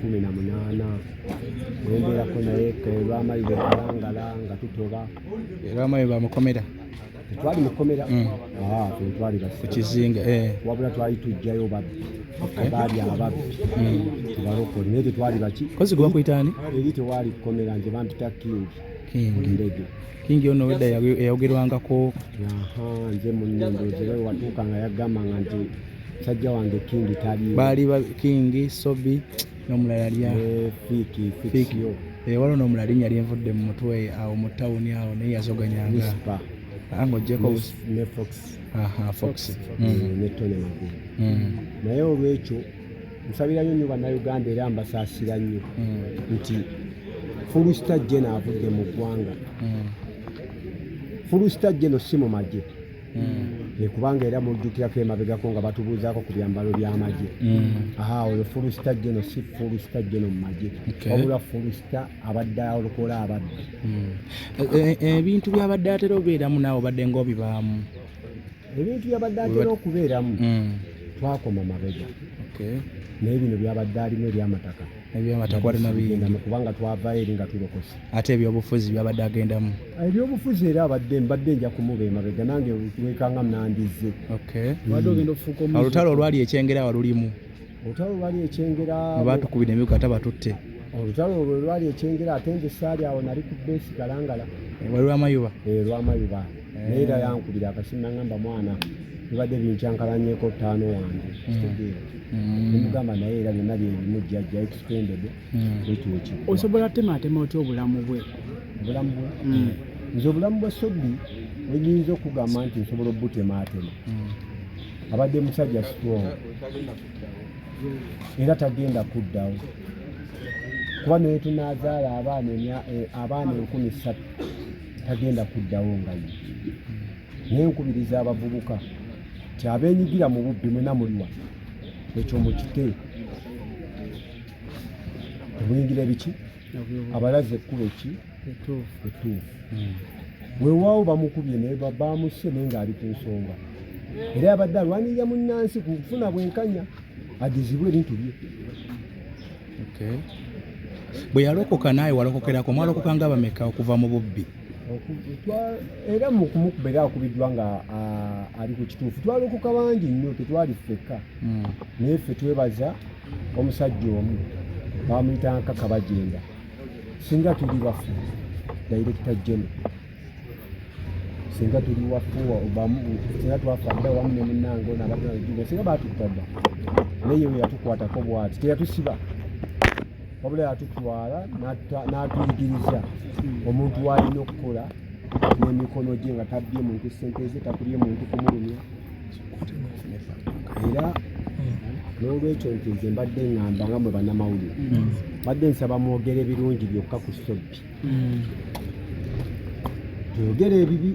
kumi na munaana wembeerako naye lwamayi lwekalangala nga tutoba lwamayi bamukomera twali mukomera mm. ah, twali kukizinga eh. wabula twali tujjayo babbi baali ababbi mm. tubalokole naye tetwali baki kozi gwakuyitaani eri tewaali kukomera nti bampita kingi ndege kingi ono wedda eyayogerwangako nze munyendo zere watuuka nga yagamba nga nti Sajja wange Kingi taliyo. Baali ba Kingi, Sobi n'omulala yali eh, Fiki, Fiki. Eh, waliwo n'omulala linnya lyenvudde mu mutwe awo mu tawuni awo naye yazoganyanga. Ah, ng'ogyeko ne Fox. Aha, Fox. Mm. Eh, ne Tony Magulu. Mm. Naye olwekyo nsabira nnyo nnyo bannayuganda era mbasaasira nnyo mm. nti fulusita jena avudde mu ggwanga fulusita jeno si mu magye mm. kubanga era mujjukirako emabegako nga batubuuzaako ku byambalo by'amagye mm. aha oyo fulusita geno si fulusita geno mu magye wabula fulusita abadde alokola ababbi mm. e, e, e, ebintu byabadde atera obeeramu naawe obadde ng'obibaamu ebintu byabadde atera okubeeramu twakoma mabega naye bino byabadde alimu eby'amataka ebyamata kwali na bingi kubanga twavaayo eri nga tulokose ate ebyobufuzi byabadde agendamu ah, ebyobufuzi era abadde mbadde nja kumuba emabega nange wekanga nandizze hmm. olutalo olwali ekyengera walulimu olutalo olwali ekyengera batukubira emiko ate batutte olutalo olwo lwali ekyengera ate nze saali awo nali ku besi kalangala eh, wali lwamayuba eh, lwamayuba naye era yankubira akasimu nangamba mwana bibadde binkyankalanyeko ttaano wange kitegeera mm. nemugamba mm. naye era byonna byebimu jjajja extended mm. ekyoki osobola temaatema otya obulamu bwe obulamu bwe nze obulamu bwa sobi wenyinza okugamba nti nsobola obutemaatema abadde musajja strong era tagenda kuddawo kuba naye tunazaala abaana eh, enkumi ssatu tagenda kuddawo nga ye naye nkubiriza abavubuka ti abenyigira mu bubbi mwena muliwa ekyo mukite temuyingira ebiki abalaze ekkuba eki etuufu hmm. wewaawo bamukubye naye bamusse naye ng'ali ku nsonga era abadde alwanirira munnansi ku kufuna bwenkanya agezibwe ebintu bye okay. bwe yalokoka naawe walokokerako mwalokoka nga bameka okuva mu bubbi era mukumukuba era akubiddwa nga ali ku kituufu twalokoka bangi nnyo tetwali ffekka hmm. naye ffe twebaza omusajja omu bamuyita nkaka bagenda singa tuli bafu dayirekita jene singa tuli wafuwa obamu singa twafa dda wamu ne munnange ono abadde najuga singa baatutta dda naye we yatukwatako bwati teyatusiba wabula yatutwala n'atuyigiriza omuntu waalina okukola n'emikono gye nga tabbye muntu sente ze takulye muntu kumulumya era n'olwekyo nti nze mbadde ngamba nga mwe bannamawulire mbadde nsaba mwogere birungi byokka ku sobbi oyogera ebibi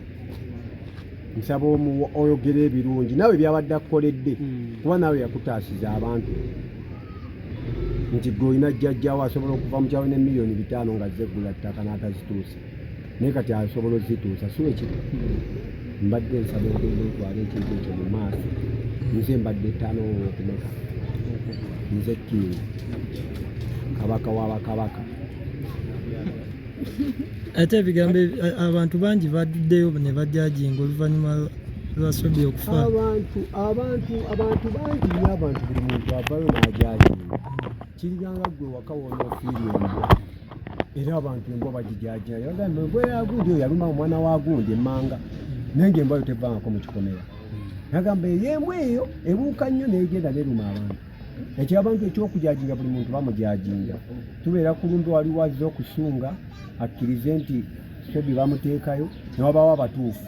nsaba omuwa oyogera ebirungi nawe byabadde akukoledde hmm. kuba nawe yakutaasiza abantu nti gwe olina jjajjawo asobola okuva mu kyalo ne miliyoni bitaano nga zeggula ttaka n'atazituusa naye kati asobola ozituusa si wekiri hmm. mbadde nsaba ogenda otwala ekintu ekyo mu maaso hmm. nze mbadde ttaano okumeka nze kingi kabaka wabakabaka ate ebigambo abantu bangi baduddeyo ne bajajinga oluvannyuma lwasobi okufa abantu abantu abantu bangi nyo abantu buli muntu avayo najajinga kiriganga gwe waka wona ofiiri embwa era abantu embwa bagijajinga yagamba embwa yagundi oyo yaluma omwana wa gundi emmanga naye nga embwayo tevangako mu kikomera nagamba eyo embwa eyo ebuuka nnyo negenda neruma abantu ekyabantu ekyokujaginga buli muntu bamujaginga tubeera kulumbe waliwo azze okusunga akkirize nti sobi bamuteekayo newabawo abatuufu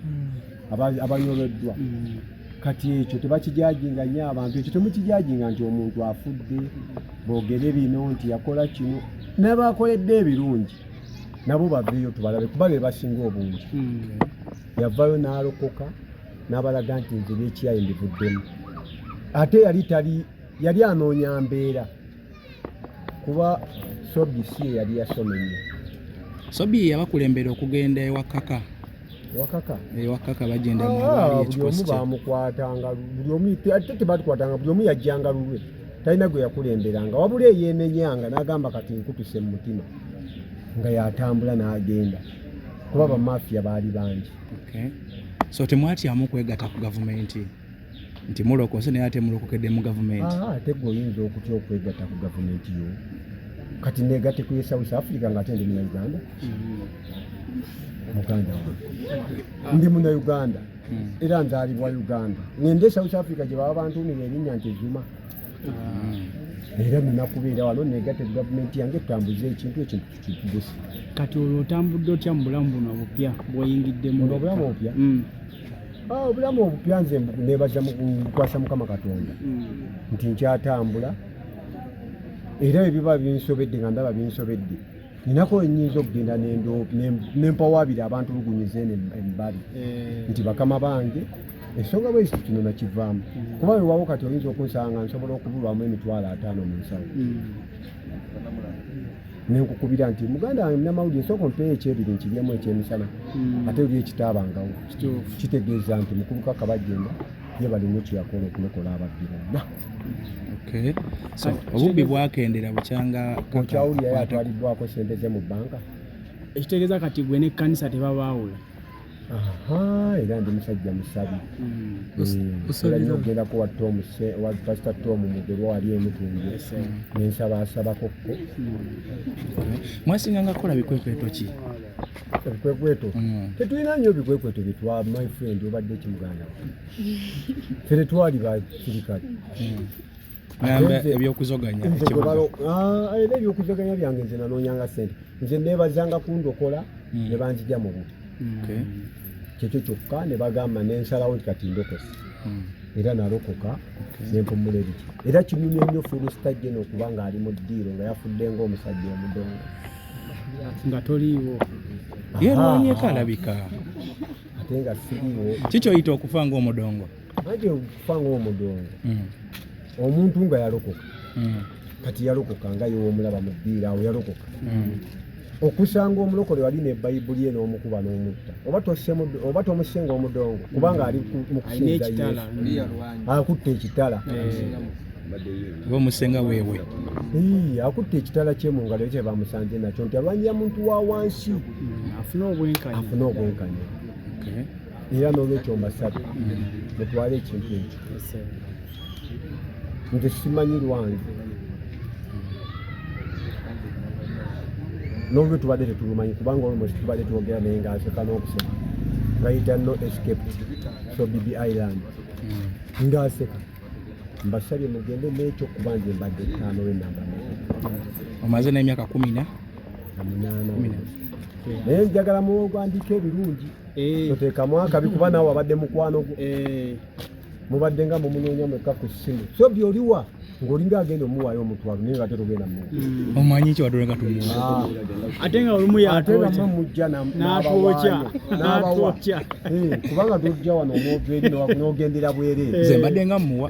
hmm. abanyoleddwa hmm. kati ekyo tebakijaginga nyo abantu ekyo temukijaginga nti omuntu afudde bogere bino nti yakola kino nabakoledde ebirungi nabo baveeyo tubalabe kuba bebasinga obungi hmm. yavayo nalokoka n'abalaga nti nze byekyayi mbivuddemu ate yali tali yali anoonya mbeera kuba sobi si eyali yasoma ennyo sobi yabakulembera okugenda ewakaka wakaka ewakaka eh, bagenda ah, buli omu bamukwatanga buli omu ate tebatukwatanga buli omu yajjanga lulwe talina gwe yakulemberanga wabula eyenenyanga n'agamba kati nkutuse mu mutima nga yatambula n'agenda kuba bamafiya baali bangi Okay. So temwatyamu kwegata ku gavumenti nti mulokose naye ate mulokokedde mu gavumenti? Ate gwe oyinza okutya okwegata ku gavumenti yo kati negate ku South Africa nga ate ndi muna Uganda muganda wange ndi muna Uganda hmm. era nzaalibwa Uganda ngende South Africa gye baba bantuumira erinnya nti Zuma hmm. era nina kubeera wano negate ku gavumenti yange tutambuze ekintu ekintu kati olwo otambudde otya mu bulamu buno obupya bwoyingiddemu obulamu obupya mm. ah, obulamu obupya nze nebaza mukwasa mukama katonda mm. nti nkyatambula era ebiba binsobedde nga ndaba binsobedde ninako enyinza okugenda nempawabira abantu lugunyiza eno embali eh. nti bakama bange ensonga bweziti kino nakivaamu mm. kuba wewawo kati oyinza okunsanga nsobola okubulwamu emitwalo ataano mu nsawo mm. nenkukubira nti muganda wange munamawulire sooka ompeeyo ekyebiri nkiryemu ekyemisana hmm. ate oli ekitaabangawo kitegeeza nti mukubuka kabajjemba ye balina ekyeyakola okulokola ababbi bonna obubbi bwakendera bukyanga okyawulira yatwaliddwako sente ze mu bbanka ekitegeeza kati gwe n'ekkanisa tebabaawula era ndi musajja musabi olina okugenda kuwa tom wa pasita tom mugerwa wali emutundu nensaba asabako ko mwasinga nga kukola bikwekweto ki ebikwekweto mm. tetulina nyo ebikwekweto byetwa my friend obadde ekimuganda fe tetwali basirikale mm. ebyokuzoganya ah, era ebyokuzoganya byange nze nanoonyanga sente nze neebazanga kundokola hmm. ne banzija mu bubi kyekyo kyokka ne bagamba nensalawo nti kati ndokosi hmm. era nalokoka nempumula ebiki era kinyumya nnyo filisita jeno okuba ng'ali mu ddiiro nga yafudde ng'omusajja omudongo nga toliiwo yerwanyeko alabika ate nga siriwo kikyoyita okufa ng'omudongo Aje okufa ng'omudongo hmm. omuntu nga yalokoka hmm. kati yalokoka nga yewomulaba mu bbiira awo yalokoka hmm. okusanga omulokole wali ne bayibuli eno omukuba n'omutta oba tomusenga omudongo kubanga ali mu kusinza akutte ekitala omusenga wewe akutte ekitala kye mu ngalo ekyo bamusanze nakyo nti alwanyira muntu wa wansi afune obwenkanya era n'olwekyo mbasabye mutwale ekintu ekyo nze simanyi lwange n'olwe tubadde tetulumanyi kubanga olmosi tubadde twogera naye nga aseka n'okuseka ngayita no escape so bibi island hmm. nga aseka mbasabye mugende n'ekyo kuba nze mbadde ttaano lwenamba omaze n'emyaka kumi na naye njagala muwogwandika ebirungi eh. toteekamu akabi kuba naawe abadde mukwano gwo eh. mubadde nga mumunoonya mwekka ku ssimu so byoliwa ng'olinga agenda omuwaayo omutwalo naye ngate togenda mu mm. omanyi ki wadole nga tumuwa ah. ate nga olumu yatewama mujja n'abawaayo n'abawa eh, kubanga tojja wano omwogeeri n'ogendera bwereere mbadde nga muwa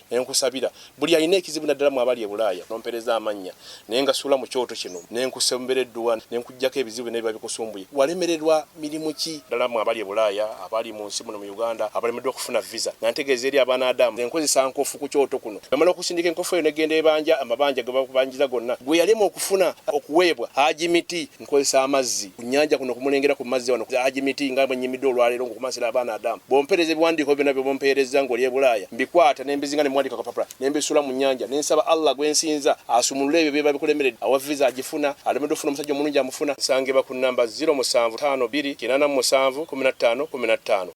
nenkusabira buli alina ekizibu naddala mu abali ebulaaya nompereza amannya naye nga suula mu kyoto kino nenkusembera edduwa nenkujjako ebizibu byonna biba bikusumbuye walemererwa mirimu ki ddala mu abali ebulaaya abali mu nsi muno mu uganda abalemeddwa okufuna visa nga ntegeeza eri abaana adamu enkozesa nkofu ku kyoto kuno namala okusindika enkofu eyo negenda ebanja amabanja gebakubanjiza gonna gwe yalema okufuna okuweebwa haji miti nkozesa amazzi ku nnyanja kuno kumulengera ku mazzi wano Haji Miti nga bwe nnyimidde olwaleero ng'okumansira abaana adamu bw'ompeereza ebiwandiiko byonna bye bumpeerezza ng'oli e Bulaaya mbikwata ne mbizinga ne muwandika kapapula ne mbisuula mu nnyanja ne nsaba Allah gwe nsinza asumulule ebyo bye babikulemeredde awa viza agifuna alemeddwa ofuna omusajja omulungi amufuna nsangibwa ku nnamba ziro musanvu ttaano bbiri kinaana mu musanvu kkumi na ttaano kkumi na ttaano.